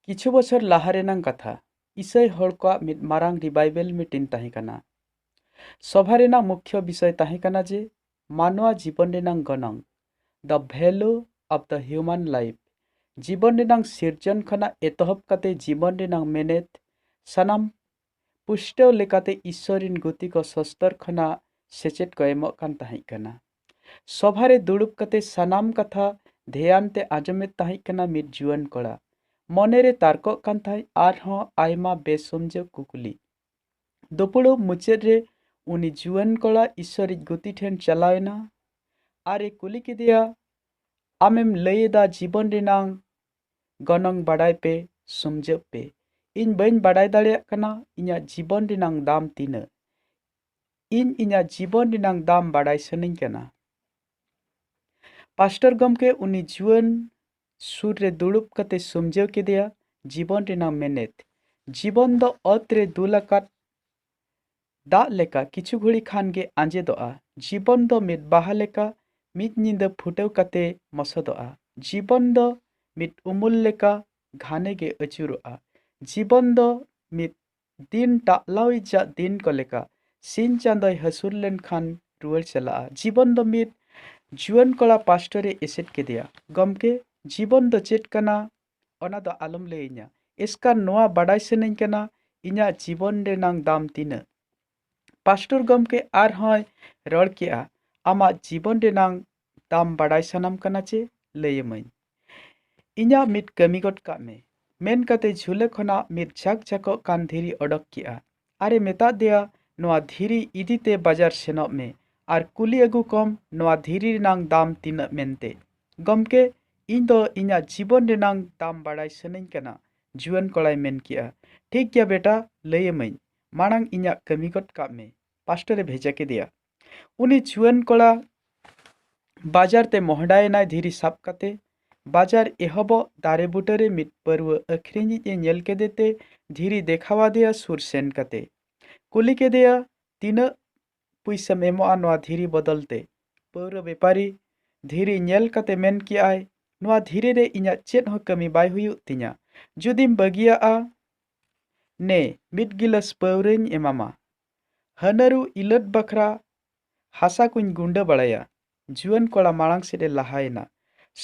ᱠᱤᱪᱷᱩ ᱵᱚᱪᱷᱚᱨ ᱞᱟᱦᱟ ᱨᱮᱱᱟᱝ ᱠᱟᱛᱷᱟ ᱤᱥᱟᱹᱭ ᱦᱚᱲ ᱠᱚᱣᱟᱜ ᱢᱤᱫ ᱢᱟᱨᱟᱝ ᱨᱤᱵᱟᱭᱵᱮᱞ ᱢᱤᱴᱤᱝ ᱛᱟᱦᱮᱸ ᱠᱟᱱᱟ ᱥᱚᱵᱷᱟ ᱨᱮᱱᱟᱜ ᱢᱩᱠᱷᱭᱚ ᱵᱤᱥᱚᱭ ᱛᱟᱦᱮᱸ ᱠᱟᱱᱟ ᱡᱮ ᱢᱟᱱᱣᱟ ᱡᱤᱵᱚᱱ ᱨᱮᱱᱟᱝ ᱜᱚᱱᱚᱝ the value of the human life ᱡᱤᱵᱚᱱ ᱨᱮᱱᱟᱝ ᱥᱤᱨᱡᱚᱱ ᱠᱷᱚᱱᱟᱜ ᱮᱛᱚᱦᱚᱵ ᱠᱟᱛᱮ ᱡᱤᱵᱚᱱ ᱨᱮᱱᱟᱝ ᱢᱮᱱᱮᱛ ᱥᱟᱱᱟᱢ ᱯᱩᱥᱴᱟᱹᱣ ᱞᱮᱠᱟᱛᱮ ᱤᱥᱥᱚᱨ ᱨᱤᱱ ᱜᱩᱛᱤ ᱠᱚ ᱥᱚᱥᱛᱚᱨ ᱠᱷᱚᱱᱟᱜ ᱥᱮᱪᱮᱫ ᱠᱚ ᱮᱢᱚᱜ ᱠᱟᱱ ᱛᱟᱦᱮᱸᱫ ᱠᱟᱱᱟ᱾ ᱥᱚᱵᱷᱟ ᱨᱮ ᱫᱩᱲᱩᱵ ᱠᱟᱛᱮ ᱥᱟᱱᱟᱢ ᱠᱟᱛᱷᱟ ᱫᱷᱮᱭᱟᱱ ᱛᱮ ᱟᱸᱡᱚᱢᱮᱫ ᱛᱟᱦᱮᱸᱫ ᱠᱟᱱᱟ ᱢᱤᱫ ᱡᱩᱣᱟᱹᱱ ᱠᱚᱲᱟ᱾ ᱢᱚᱱᱮ ᱨᱮ ᱛᱟᱨᱠᱚᱜ ᱠᱟᱱ ᱛᱟᱦᱮᱸᱫ ᱟᱨ ᱦᱚᱸ ᱟᱭᱢᱟ ᱵᱮᱼᱥᱚᱢᱡᱟᱹᱣ ᱠᱩᱠᱞᱤ᱾ ᱫᱩᱯᱩᱲᱩᱵ ᱢᱩᱪᱟᱹᱫ ᱨᱮ ᱩᱱᱤ ᱡᱩᱣᱟᱹᱱ ᱠᱚᱲᱟ ᱤᱥᱥᱚᱨᱤᱡ ᱜᱩᱛᱤ ᱴᱷᱮᱱ ᱪᱟᱞᱟᱣ ᱮᱱᱟ ᱟᱨ ᱮ ᱠᱩᱞᱤ ᱠᱮᱫᱮᱭᱟ, ᱟᱢᱮᱢ ᱞᱟᱹᱭ ᱮᱫᱟ ᱡᱤᱵᱚᱱ ᱨᱮᱱᱟᱜ ᱜᱚᱱᱚᱝ ᱵᱟᱰᱟᱭ ᱯᱮ ᱥᱚᱢᱡᱟᱹᱜ ᱯᱮ ᱤᱧ ᱵᱟᱹᱧ ᱵᱟᱰᱟᱭ ᱫᱟᱲᱮᱭᱟᱜ ᱠᱟᱱᱟ ᱤᱧᱟᱹᱜ ᱡᱤᱵᱚᱱ ᱨᱮᱱᱟᱝ ᱫᱟᱢ ᱛᱤᱱᱟᱹᱜ ᱤᱧ ᱤᱧᱟᱹᱜ ᱡᱤᱵᱚᱱ ᱨᱮᱱᱟᱝ ᱫᱟᱢ ᱵᱟᱰᱟᱭ ᱥᱟᱱᱟᱧ ᱠᱟᱱᱟ ᱯᱟᱥᱴᱚᱨ ᱜᱚᱢᱠᱮ ᱩᱱᱤ ᱡᱩᱣᱟᱹᱱ ᱥᱩᱨ ᱨᱮ ᱫᱩᱲᱩᱵ ᱠᱟᱛᱮ ᱥᱚᱢᱡᱟᱹᱣ ᱠᱮᱫᱮᱭᱟ ᱡᱤᱵᱚᱱ ᱨᱮᱱᱟᱝ ᱢᱮᱱᱮᱛ ᱡᱤᱵᱚᱱ ᱫᱚ ᱚᱛ ᱨᱮ ᱫᱩᱞ ᱟᱠᱟᱫ ᱫᱟᱜ ᱞᱮᱠᱟ ᱠᱤᱪᱷᱩ ᱜᱷᱩᱲᱤ ᱠᱷᱟᱱ ᱜᱮ ᱟᱸᱡᱮᱫᱚᱜᱼᱟ᱾ ᱡᱤᱵᱚᱱ ᱫᱚ ᱢᱤᱫ ᱵᱟᱦᱟ ᱞᱮᱠᱟ ᱢᱤᱫ ᱧᱤᱫᱟᱹ ᱯᱷᱩᱴᱟᱹᱣ ᱠᱟᱛᱮ ᱢᱚᱥᱚᱫᱚᱜᱼᱟ᱾ ᱡᱤᱵᱚᱱ ᱫᱚ ᱢᱤᱫ ᱩᱢᱩᱞ ᱞᱮᱠᱟ ᱜᱷᱟᱱᱮ ᱜᱮ ᱟᱹᱪᱩᱨᱚᱜᱼᱟ᱾ ᱡᱤᱵᱚᱱ ᱫᱚ ᱢᱤᱫ ᱫᱤᱱ ᱴᱟᱜᱞᱟᱣᱤᱡᱟᱜ ᱫᱤᱱ ᱠᱚ ᱞᱮᱠᱟ᱾ ᱥᱤᱧ ᱪᱟᱸᱫᱚᱭ ᱦᱟᱹᱥᱩᱨ ᱞᱮᱱ ᱠᱷᱟᱱ ᱨᱩᱣᱟᱹᱲ ᱪᱟᱞᱟᱜᱼᱟ᱾ ᱡᱤᱵᱚᱱ ᱫᱚ ᱢᱤᱫ ᱡᱩᱣᱟᱹᱱ ᱠᱚᱲᱟ ᱯᱟᱥᱴᱚᱨᱮ ᱮᱥᱮᱫ ᱠᱮᱫᱮᱭᱟ᱾ ᱜᱚᱢᱠᱮ, ᱡᱤᱵᱚᱱ ᱫᱚ ᱪᱮᱫ ᱠᱟᱱᱟ ᱚᱱᱟ ᱫᱚ ᱟᱞᱚᱢ ᱞᱟᱹᱭ ᱟᱹᱧᱟ᱾ ᱮᱥᱠᱟᱨ ᱱᱚᱣᱟ ᱵᱟᱰᱟᱭ ᱥᱟᱹᱱᱟᱹᱧ ᱠᱟᱱᱟ ᱤᱧᱟᱜ ᱡᱤᱵᱚᱱ ᱨᱮᱱᱟᱝ ᱫᱟᱢ ᱛᱤᱱᱟᱹᱜ᱾ ᱯᱟᱥᱴᱚᱨ ᱜᱚᱢᱠᱮ ᱟᱨ ᱦᱚᱸᱭ ᱨᱚᱲ ᱠᱮᱫᱼᱟ, ᱟᱢᱟᱜ ᱡᱤᱵᱚᱱ ᱨᱮᱱᱟᱝ ᱫᱟᱢ ᱵᱟᱰᱟᱭ ᱥᱟᱱᱟᱢ ᱠᱟᱱᱟ ᱪᱮ? ᱞᱟᱹᱭ ᱟᱢᱟᱹᱧ᱾ ᱤᱧᱟᱜ ᱢᱤᱫ ᱠᱟᱹᱢᱤ ᱜᱚᱫ ᱠᱟᱜ ᱢᱮ᱾ ᱢᱮᱱ ᱠᱟᱛᱮ ᱡᱷᱩᱞᱟᱹ ᱠᱷᱚᱱᱟᱜ ᱢᱤᱫ ᱡᱷᱟᱠ ᱡᱷᱟᱠᱚᱜ ᱠᱟᱱ ᱫᱷᱤᱨᱤ ᱚᱰᱚᱠ ᱠᱮᱫᱼᱟ᱾ ᱟᱨᱮ ᱢᱮᱛᱟᱫ ᱫᱮᱭᱟ ᱱᱚᱣᱟ ᱫᱷᱤᱨᱤ ᱤᱫᱤ ᱛᱮ ᱵᱟᱡᱟᱨ ᱥᱮᱱᱚᱜ ᱢᱮ ᱟᱨ ᱠᱩᱞᱤ ᱟᱹᱜᱩ ᱠᱚᱢ ᱱᱚᱣᱟ ᱫᱷᱤᱨᱤ ᱨᱮᱱᱟᱝ ᱫᱟᱢ ᱛᱤᱱᱟᱹᱜ ᱢᱮᱱᱛᱮ᱾ ᱜᱚᱢᱠᱮ, ᱤᱧ ᱫᱚ ᱤᱧᱟᱜ ᱡᱤᱵᱚᱱ ᱨᱮᱱᱟᱝ ᱫᱟᱢ ᱵᱟᱲᱟᱭ ᱥᱟᱹᱱᱟᱹᱧ ᱠᱟᱱᱟ᱾ ᱡᱩᱣᱟᱹᱱ ᱠᱚᱲᱟᱭ ᱢᱮᱱ ᱠᱮᱫᱼᱟ, ᱴᱷᱤᱠ ᱜᱮᱭᱟ ᱵᱮᱴᱟ, ᱞᱟᱹᱭ ᱟᱢᱟᱹᱧ᱾ ᱢᱟᱬᱟᱝ ᱤᱧᱟᱜ ᱠᱟᱹᱢᱤ ᱜᱚᱫ ᱠᱟᱜ ᱢᱮ᱾ ᱯᱟᱥᱴᱚᱨᱮ ᱵᱷᱮᱡᱟ ᱠᱮᱫᱮᱭᱟ᱾ ᱩᱱᱤ ᱡᱩᱣᱟᱹᱱ ᱠᱚᱲᱟ ᱵᱟᱡᱟᱨ ᱛᱮ ᱢᱚᱦᱰᱟᱭᱮᱱᱟᱭ ᱫᱷᱤᱨᱤ ᱥᱟᱵ ᱠᱟᱛᱮ ᱵᱟᱡᱟᱨ ᱮᱦᱚᱵᱚᱜ ᱫᱟᱨᱮ ᱵᱩᱴᱟᱹᱨᱮ ᱢᱤᱫ ᱯᱟᱹᱨᱣᱟᱹ ᱟᱹᱠᱷᱨᱤᱧᱤᱡ ᱮ ᱧᱮᱞ ᱠᱮᱫᱮ ᱛᱮ ᱫᱷᱤᱨᱤ ᱫᱮᱠᱷᱟᱣᱟᱫᱮᱭᱟ ᱥᱩᱨ ᱥᱮᱱ ᱠᱟᱛᱮ ᱠᱩᱞᱤ ᱠᱮᱫᱮᱭᱟ ᱛᱤᱱᱟᱹᱜ ᱯᱩᱭᱥᱟᱹᱢ ᱮᱢᱚᱜᱼᱟ ᱱᱚᱣᱟ ᱫᱷᱤᱨᱤ ᱵᱚᱫᱚᱞ ᱛᱮ ᱯᱟᱹᱣᱨᱟᱹ ᱵᱮᱯᱟᱨᱤ ᱫᱷᱤᱨᱤ ᱧᱮᱞ ᱠᱟᱛᱮ ᱢᱮᱱ ᱠᱮᱜᱼᱟᱭ ᱱᱚᱣᱟ ᱫᱷᱤᱨᱤ ᱨᱮ ᱤᱧᱟᱹᱜ ᱪᱮᱫ ᱦᱚᱸ ᱠᱟᱹᱢᱤ ᱵᱟᱭ ᱦᱩᱭᱩᱜ ᱛᱤᱧᱟ ᱡᱩᱫᱤᱢ ᱵᱟᱹᱜᱤᱭᱟᱜᱼᱟ ᱱᱮ ᱢᱤᱫ ᱜᱤᱞᱟᱹᱥ ᱯᱟᱹᱣᱨᱟᱹᱧ ᱮᱢᱟᱢᱟ ᱦᱟᱹᱱᱟᱹᱨᱩ ᱤᱞᱟᱹᱫ ᱵᱟᱠᱷᱨᱟ ᱦᱟᱥᱟ ᱠᱚᱧ ᱜᱩᱸᱰᱟᱹ ᱵᱟᱲᱟᱭᱟ᱾ ᱡᱩᱣᱟᱹᱱ ᱠᱚᱲᱟ ᱢᱟᱬᱟᱝ ᱥᱮᱫ ᱮ ᱞᱟᱦᱟ ᱮᱱᱟ᱾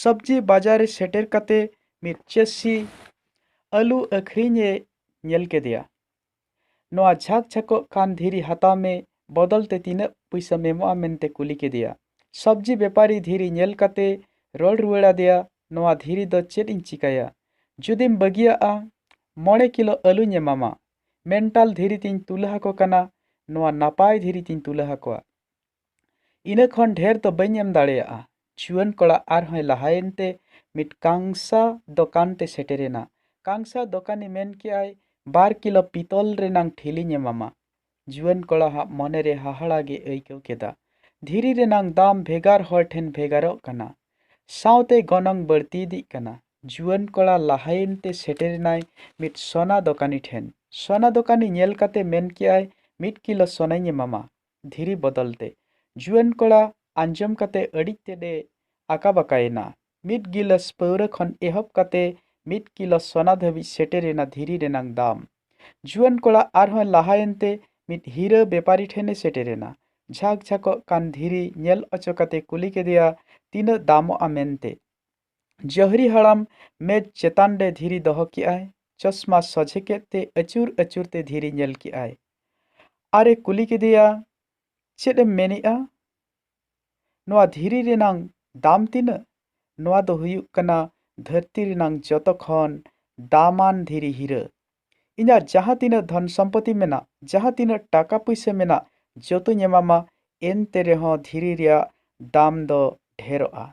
ᱥᱚᱵᱽᱡᱤ ᱵᱟᱡᱟᱨ ᱨᱮ ᱥᱮᱴᱮᱨ ᱠᱟᱛᱮ ᱢᱤᱫ ᱪᱟᱹᱥᱤ ᱟᱹᱞᱩ ᱟᱹᱠᱷᱨᱤᱧ ᱮ ᱧᱮᱞ ᱠᱮᱫᱮᱭᱟ᱾ ᱱᱚᱶᱟ ᱡᱷᱟᱠ ᱡᱷᱟᱠᱚᱜ ᱠᱟᱱ ᱫᱷᱤᱨᱤ ᱦᱟᱛᱟᱣ ᱢᱮ ᱵᱚᱫᱚᱞ ᱛᱮ ᱛᱤᱱᱟᱹᱜ ᱯᱩᱭᱥᱟᱹᱢ ᱮᱢᱚᱜᱼᱟ ᱢᱮᱱᱛᱮ ᱠᱩᱞᱤ ᱠᱮᱫᱮᱭᱟ᱾ ᱥᱚᱵᱽᱡᱤ ᱵᱮᱯᱟᱨᱤ ᱫᱷᱤᱨᱤ ᱧᱮᱞ ᱠᱟᱛᱮ ᱨᱚᱲ ᱨᱩᱣᱟᱹᱲ ᱟᱫᱮᱭᱟ ᱱᱚᱶᱟ ᱫᱷᱤᱨᱤ ᱫᱚ ᱪᱮᱫ ᱤᱧ ᱪᱤᱠᱟᱹᱭᱟ᱾ ᱡᱩᱫᱤᱢ ᱵᱟᱹᱜᱤᱭᱟᱜᱼᱟ ᱢᱚᱬᱮ ᱠᱤᱞᱚ ᱟᱹᱞᱩᱧ ᱮᱢᱟᱢᱟ᱾ ᱢᱮᱱᱴᱟᱞ ᱫᱷᱤᱨᱤ ᱛᱤᱧ ᱛᱩᱞᱟᱹ ᱟᱠᱚ ᱠᱟᱱᱟ ᱱᱚᱣᱟ ᱱᱟᱯᱟᱭ ᱫᱷᱤᱨᱤ ᱛᱤᱧ ᱛᱩᱞᱟᱹ ᱟᱠᱚᱣᱟ ᱤᱱᱟᱹ ᱠᱷᱚᱱ ᱰᱷᱮᱨ ᱫᱚ ᱵᱟᱹᱧ ᱮᱢ ᱫᱟᱲᱮᱭᱟᱜᱼᱟ ᱡᱩᱣᱟᱹᱱ ᱠᱚᱲᱟ ᱟᱨᱦᱚᱸᱭ ᱞᱟᱦᱟᱭᱮᱱ ᱛᱮ ᱢᱤᱫ ᱠᱟᱝᱥᱟ ᱫᱚᱠᱟᱱ ᱛᱮ ᱥᱮᱴᱮᱨᱮᱱᱟ ᱠᱟᱝᱥᱟ ᱫᱚᱠᱟᱱᱤ ᱢᱮᱱ ᱠᱮᱜᱼᱟᱭ ᱵᱟᱨ ᱠᱤᱞᱳ ᱯᱤᱛᱚᱞ ᱨᱮᱱᱟᱝ ᱴᱷᱤᱞᱤᱧ ᱮᱢᱟᱢᱟ ᱡᱩᱣᱟᱹᱱ ᱠᱚᱲᱟ ᱦᱟᱜ ᱢᱚᱱᱮ ᱨᱮ ᱦᱟᱦᱟᱲᱟ ᱜᱮ ᱟᱹᱭᱠᱟᱹᱣ ᱠᱮᱫᱟ ᱫᱷᱤᱨᱤ ᱨᱮᱱᱟᱝ ᱫᱟᱢ ᱵᱷᱮᱜᱟᱨ ᱦᱚᱲ ᱴᱷᱮᱱ ᱵᱷᱮᱜᱟᱨᱚᱜ ᱠᱟᱱᱟ ᱥᱟᱶᱛᱮ ᱜᱚᱱᱚᱝ ᱵᱟᱹᱲᱛᱤ ᱤᱫᱤᱜ ᱠᱟᱱᱟ᱾ ᱡᱩᱣᱟᱹᱱ ᱠᱚᱲᱟ ᱞᱟᱦᱟᱭᱮᱱ ᱛᱮ ᱥᱮᱴᱮᱨ ᱮᱱᱟᱭ ᱢᱤᱫ ᱥᱚᱱᱟ ᱫᱚᱠᱟᱱᱤ ᱴᱷᱮᱱ᱾ ᱥᱚᱱᱟ ᱫᱚᱠᱟᱱᱤ ᱧᱮᱞ ᱠᱟᱛᱮ ᱢᱮᱱ ᱠᱮᱫᱼᱟᱭ ᱢᱤᱫ ᱠᱤᱞᱚ ᱥᱚᱱᱟᱧ ᱮᱢᱟᱢᱟ ᱫᱷᱤᱨᱤ ᱵᱚᱫᱚᱞ ᱛᱮ᱾ ᱡᱩᱣᱟᱹᱱ ᱠᱚᱲᱟ ᱟᱸᱡᱚᱢ ᱠᱟᱛᱮ ᱟᱹᱰᱤ ᱛᱮᱫ ᱮ ᱟᱠᱟᱵᱟᱠᱟ ᱮᱱᱟ᱾ ᱢᱤᱫ ᱜᱤᱞᱟᱹᱥ ᱯᱟᱹᱣᱨᱟᱹ ᱠᱷᱚᱱ ᱮᱦᱚᱵ ᱠᱟᱛᱮ ᱢᱤᱫ ᱠᱤᱞᱚ ᱥᱚᱱᱟ ᱫᱷᱟᱹᱵᱤᱡ ᱥᱮᱴᱮᱨ ᱮᱱᱟ ᱫᱷᱤᱨᱤ ᱨᱮᱱᱟᱝ ᱫᱟᱢ᱾ ᱡᱩᱣᱟᱹᱱ ᱠᱚᱲᱟ ᱟᱨᱦᱚᱸᱭ ᱞᱟᱦᱟᱭᱮᱱ ᱛᱮ ᱢᱤᱫ ᱦᱤᱨᱟᱹ ᱵᱮᱯᱟᱨᱤ ᱴᱷᱮᱱ ᱮ ᱥᱮᱴᱮᱨ ᱮᱱᱟ᱾ ᱡᱷᱟᱠ ᱡᱷᱟᱠᱚᱜ ᱠᱟᱱ ᱫᱷᱤᱨᱤ ᱧᱮᱞ ᱚᱪᱚ ᱠᱟᱛᱮ ᱠᱩᱞᱤ ᱠᱮᱫᱮᱭᱟ ᱛᱤᱱᱟᱹᱜ ᱫᱟᱢᱚᱜᱼᱟ ᱢᱮᱱᱛᱮ᱾ ᱡᱟᱹᱦᱨᱤ ᱦᱟᱲᱟᱢ ᱢᱮᱡᱽ ᱪᱮᱛᱟᱱ ᱨᱮ ᱫᱷᱤᱨᱤ ᱫᱚᱦᱚ ᱠᱮᱫ ᱟᱭ᱾ ᱪᱚᱥᱢᱟ ᱥᱚᱡᱷᱮ ᱠᱮᱫ ᱛᱮ ᱟᱹᱪᱩᱨ ᱟᱹᱪᱩᱨ ᱛᱮ ᱫᱷᱤᱨᱤ ᱧᱮᱞ ᱠᱮᱫ ᱟᱭ᱾ ᱟᱨ ᱮ ᱠᱩᱞᱤ ᱠᱮᱫᱮᱭᱟ ᱪᱮᱫ ᱮᱢ ᱢᱮᱱᱮᱫᱼᱟ? ᱱᱚᱣᱟ ᱫᱷᱤᱨᱤ ᱨᱮᱱᱟᱝ ᱫᱟᱢ ᱛᱤᱱᱟᱹᱜ? ᱱᱚᱣᱟ ᱫᱚ ᱦᱩᱭᱩᱜ ᱠᱟᱱᱟ ᱫᱷᱟᱹᱨᱛᱤ ᱨᱮᱱᱟᱝ ᱡᱚᱛᱚ ᱠᱷᱚᱱ ᱫᱟᱢᱟᱱ ᱫᱷᱤᱨᱤ ᱦᱤᱨᱟᱹ᱾ ᱤᱧᱟᱜ ᱡᱟᱦᱟᱸ ᱛᱤᱱᱟᱹᱜ ᱫᱷᱚᱱ ᱥᱚᱢᱯᱚᱛᱤ ᱢᱮᱱᱟᱜ, ᱡᱟᱦᱟᱸ ᱛᱤᱱᱟᱹᱜ ᱴᱟᱠᱟ ᱯᱩᱭᱥᱟᱹ ᱢᱮᱱᱟᱜ ᱡᱚᱛᱚᱧ ᱮᱢᱟᱢᱟ ᱮᱱᱛᱮ ᱨᱮᱦᱚᱸ ᱫᱷᱤᱨᱤ ᱨᱮᱭᱟᱜ ᱫᱟᱢ ᱫᱚ ᱰᱷᱮᱨᱚᱜᱼᱟ᱾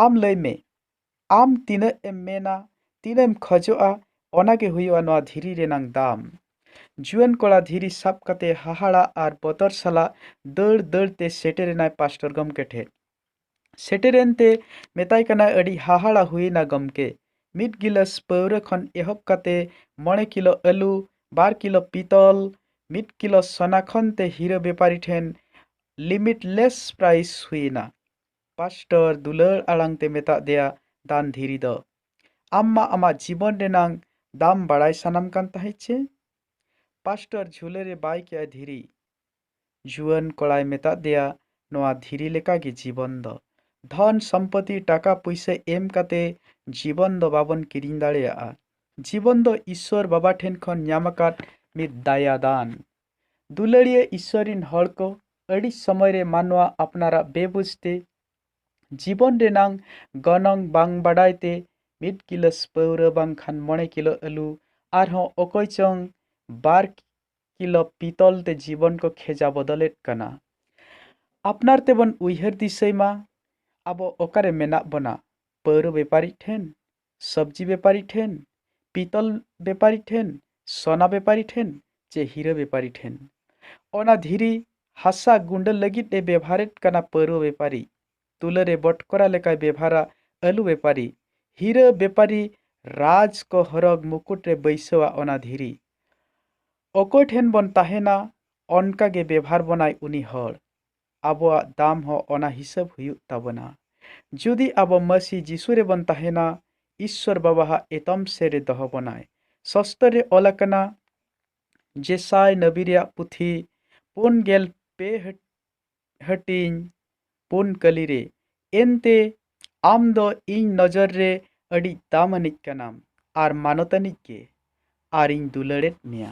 ᱟᱢ ᱞᱟᱹᱭ ᱢᱮ ᱟᱢ ᱛᱤᱱᱟᱹᱜ ᱮᱢ ᱢᱮᱱᱟ ᱛᱤᱱᱟᱹᱜ ᱮᱢ ᱠᱷᱚᱡᱚᱜᱼᱟ ᱚᱱᱟ ᱜᱮ ᱦᱩᱭᱩᱜᱼᱟ ᱱᱚᱣᱟ ᱫᱷᱤᱨᱤ ᱨᱮᱱᱟᱝ ᱫᱟᱢ᱾ ᱡᱩᱣᱟᱹᱱ ᱠᱚᱲᱟ ᱫᱷᱤᱨᱤ ᱥᱟᱵ ᱠᱟᱛᱮ ᱦᱟᱦᱟᱲᱟᱜ ᱟᱨ ᱵᱚᱛᱚᱨ ᱥᱟᱞᱟᱜ ᱫᱟᱹᱲ ᱫᱟᱹᱲ ᱛᱮ ᱥᱮᱴᱮᱨ ᱮᱱᱟᱭ ᱯᱟᱥᱴᱚᱨ ᱜᱚᱢᱠᱮ ᱴᱷᱮᱫ᱾ ᱥᱮᱴᱮᱨ ᱮᱱ ᱛᱮ ᱢᱮᱛᱟᱭ ᱠᱟᱱᱟᱭ ᱟᱹᱰᱤ ᱦᱟᱦᱟᱲᱟ ᱦᱩᱭ ᱮᱱᱟ ᱜᱚᱢᱠᱮ, ᱢᱤᱫ ᱜᱤᱞᱟᱹᱥ ᱯᱟᱹᱣᱨᱟᱹ ᱠᱷᱚᱱ ᱮᱦᱚᱵ ᱠᱟᱛᱮ ᱢᱚᱬᱮ ᱠᱤᱞᱚ ᱟᱹᱞᱩ, ᱵᱟᱨ ᱠᱤᱞᱚ ᱯᱤᱛᱚᱞ, ᱢᱤᱫ ᱠᱤᱞᱚ ᱥᱚᱱᱟ ᱠᱷᱚᱱ ᱛᱮ ᱦᱤᱨᱟᱹ ᱵᱮᱯᱟᱨᱤ ᱴᱷᱮᱱ ᱞᱤᱢᱤᱴᱞᱮᱥ ᱯᱨᱟᱭᱤᱥ ᱦᱩᱭ ᱮᱱᱟ᱾ ᱯᱟᱥᱴᱚᱨ ᱫᱩᱞᱟᱹᱲ ᱟᱲᱟᱝ ᱛᱮ ᱢᱮᱛᱟᱫ ᱫᱮᱭᱟ ᱫᱟᱱ ᱫᱷᱤᱨᱤ ᱫᱚ, ᱟᱢ ᱢᱟ ᱟᱢᱟᱜ ᱡᱤᱵᱚᱱ ᱨᱮᱱᱟᱝ ᱫᱟᱢ ᱵᱟᱲᱟᱭ ᱥᱟᱱᱟᱢ ᱠᱟᱱ ᱛᱟᱦᱮᱸᱫ ᱪᱮ? ᱯᱟᱥᱴᱚᱨ ᱡᱷᱩᱞᱟᱹ ᱨᱮ ᱵᱟᱭ ᱠᱮᱫ ᱟᱭ ᱫᱷᱤᱨᱤ᱾ ᱡᱩᱣᱟᱹᱱ ᱠᱚᱲᱟᱭ ᱢᱮᱛᱟᱫ ᱫᱮᱭᱟ ᱱᱚᱶᱟ ᱫᱷᱤᱨᱤ ᱞᱮᱠᱟ ᱜᱮ ᱡᱤᱵᱚᱱ ᱫᱚ᱾ ᱫᱷᱚᱱ ᱥᱚᱢᱯᱚᱛᱤ ᱴᱟᱠᱟ ᱯᱩᱭᱥᱟᱹ ᱮᱢ ᱠᱟᱛᱮ ᱡᱤᱵᱚᱱ ᱫᱚ ᱵᱟᱵᱚᱱ ᱠᱤᱨᱤᱧ ᱫᱟᱲᱮᱭᱟᱜᱼᱟ᱾ ᱡᱤᱵᱚᱱ ᱫᱚ ᱤᱥᱣᱚᱨ ᱵᱟᱵᱟ ᱴᱷᱮᱱ ᱠᱷᱚᱱ ᱧᱟᱢ ᱟᱠᱟᱫ ᱢᱤᱫ ᱫᱟᱭᱟ ᱫᱟᱱ᱾ ᱫᱩᱞᱟᱹᱲᱤᱭᱟᱹ ᱤᱥᱥᱚᱨ ᱨᱤᱱ ᱦᱚᱲ ᱠᱚ ᱟᱹᱰᱤ ᱥᱚᱢᱚᱭ ᱨᱮ ᱢᱟᱱᱣᱟ ᱟᱯᱱᱟᱨᱟᱜ ᱵᱮᱵᱩᱡᱽ ᱛᱮ ᱡᱤᱵᱚᱱ ᱨᱮᱱᱟᱝ ᱜᱚᱱᱚᱝ ᱵᱟᱝ ᱵᱟᱰᱟᱭ ᱛᱮ ᱢᱤᱫ ᱜᱤᱞᱟᱹᱥ ᱯᱟᱹᱣᱨᱟᱹ ᱵᱟᱝᱠᱷᱟᱱ ᱢᱚᱬᱮ ᱠᱤᱞᱳ ᱟᱹᱞᱩ ᱟᱨᱦᱚᱸ ᱚᱠᱚᱭ ᱪᱚᱝ ᱵᱟᱨ ᱠᱤᱞᱳ ᱯᱤᱛᱚᱞ ᱛᱮ ᱡᱤᱵᱚᱱ ᱠᱚ ᱠᱷᱮᱡᱟ ᱵᱚᱫᱚᱞᱮᱫ ᱠᱟᱱᱟ ᱟᱯᱱᱟᱨ ᱛᱮᱵᱚᱱ ᱩᱭᱦᱟᱹᱨ ᱫᱤᱥᱟᱹᱭ ᱢᱟ ᱟᱵᱚ ᱚᱠᱟᱨᱮ ᱢᱮᱱᱟᱜ ᱵᱚᱱᱟ ᱯᱟᱹᱣᱨᱟᱹ ᱵᱮᱯᱟᱨᱤ ᱴᱷᱮᱱ ᱥᱚᱵᱽᱡᱤ ᱵᱮᱯᱟᱨᱤ ᱴᱷᱮᱱ, ᱯᱤᱛᱚᱞ ᱵᱮᱯᱟᱨᱤ ᱴᱷᱮᱱ, ᱥᱚᱱᱟ ᱵᱮᱯᱟᱨᱤ ᱴᱷᱮᱱ ᱪᱮ ᱦᱤᱨᱟᱹ ᱵᱮᱯᱟᱨᱤ ᱴᱷᱮᱱ᱾ ᱚᱱᱟ ᱫᱷᱤᱨᱤ, ᱦᱟᱥᱟ ᱜᱩᱸᱰᱟᱹ ᱞᱟᱹᱜᱤᱫ ᱮ ᱵᱮᱵᱷᱟᱨᱮᱫ ᱠᱟᱱᱟ ᱯᱟᱹᱨᱣᱟᱹ ᱵᱮᱯᱟᱨᱤ, ᱛᱩᱞᱟᱹ ᱨᱮ ᱵᱚᱴᱠᱚᱨᱟ ᱞᱮᱠᱟᱭ ᱵᱮᱵᱷᱟᱨᱟ ᱟᱹᱞᱩ ᱵᱮᱯᱟᱨᱤ, ᱦᱤᱨᱟᱹ ᱵᱮᱯᱟᱨᱤ ᱨᱟᱡᱽ ᱠᱚ ᱦᱚᱨᱚᱜᱽ ᱢᱩᱠᱩᱴ ᱨᱮ ᱵᱟᱹᱭᱥᱟᱹᱣᱟ ᱚᱱᱟ ᱫᱷᱤᱨᱤ᱾ ᱚᱠᱚᱭ ᱴᱷᱮᱱ ᱵᱚᱱ ᱛᱟᱦᱮᱸᱱᱟ ᱚᱱᱠᱟ ᱜᱮ ᱵᱮᱵᱷᱟᱨ ᱵᱚᱱᱟᱭ ᱩᱱᱤ ᱦᱚᱲ᱾ ᱟᱵᱚᱣᱟᱜ ᱫᱟᱢ ᱦᱚᱸ ᱚᱱᱟ ᱦᱤᱥᱟᱹᱵᱽ ᱦᱩᱭᱩᱜ ᱛᱟᱵᱚᱱᱟ᱾ ᱡᱩᱫᱤ ᱟᱵᱚ ᱢᱟᱹᱥᱤ ᱡᱤᱥᱩ ᱨᱮᱵᱚᱱ ᱛᱟᱦᱮᱸᱱᱟ, ᱤᱥᱥᱚᱨ ᱵᱟᱵᱟ ᱦᱟᱜ ᱮᱛᱚᱢ ᱥᱮᱨ ᱨᱮ ᱫᱚᱦᱚ ᱵᱚᱱᱟᱭ᱾ ᱥᱚᱥᱛᱚᱨ ᱨᱮ ᱚᱞ ᱟᱠᱟᱱᱟ, ᱡᱮᱥᱟᱭ ᱱᱟᱹᱵᱤ ᱨᱮᱭᱟᱜ ᱯᱩᱛᱷᱤ, ᱯᱩᱱ ᱜᱮᱞ ᱯᱮ ᱦᱟᱹᱴᱤᱧ ᱯᱩᱱ ᱠᱟᱹᱞᱤ ᱨᱮ, ᱮᱱᱛᱮ ᱟᱢ ᱫᱚ ᱤᱧ ᱱᱚᱡᱚᱨ ᱨᱮ ᱟᱹᱰᱤᱡ ᱫᱟᱢ ᱟᱹᱱᱤᱡ ᱠᱟᱱᱟᱢ ᱟᱨ ᱢᱟᱱᱚᱛ ᱟᱹᱱᱤᱡ ᱜᱮ, ᱟᱨ ᱤᱧ ᱫᱩᱞᱟᱹᱲ ᱮᱫ ᱢᱮᱭᱟ᱾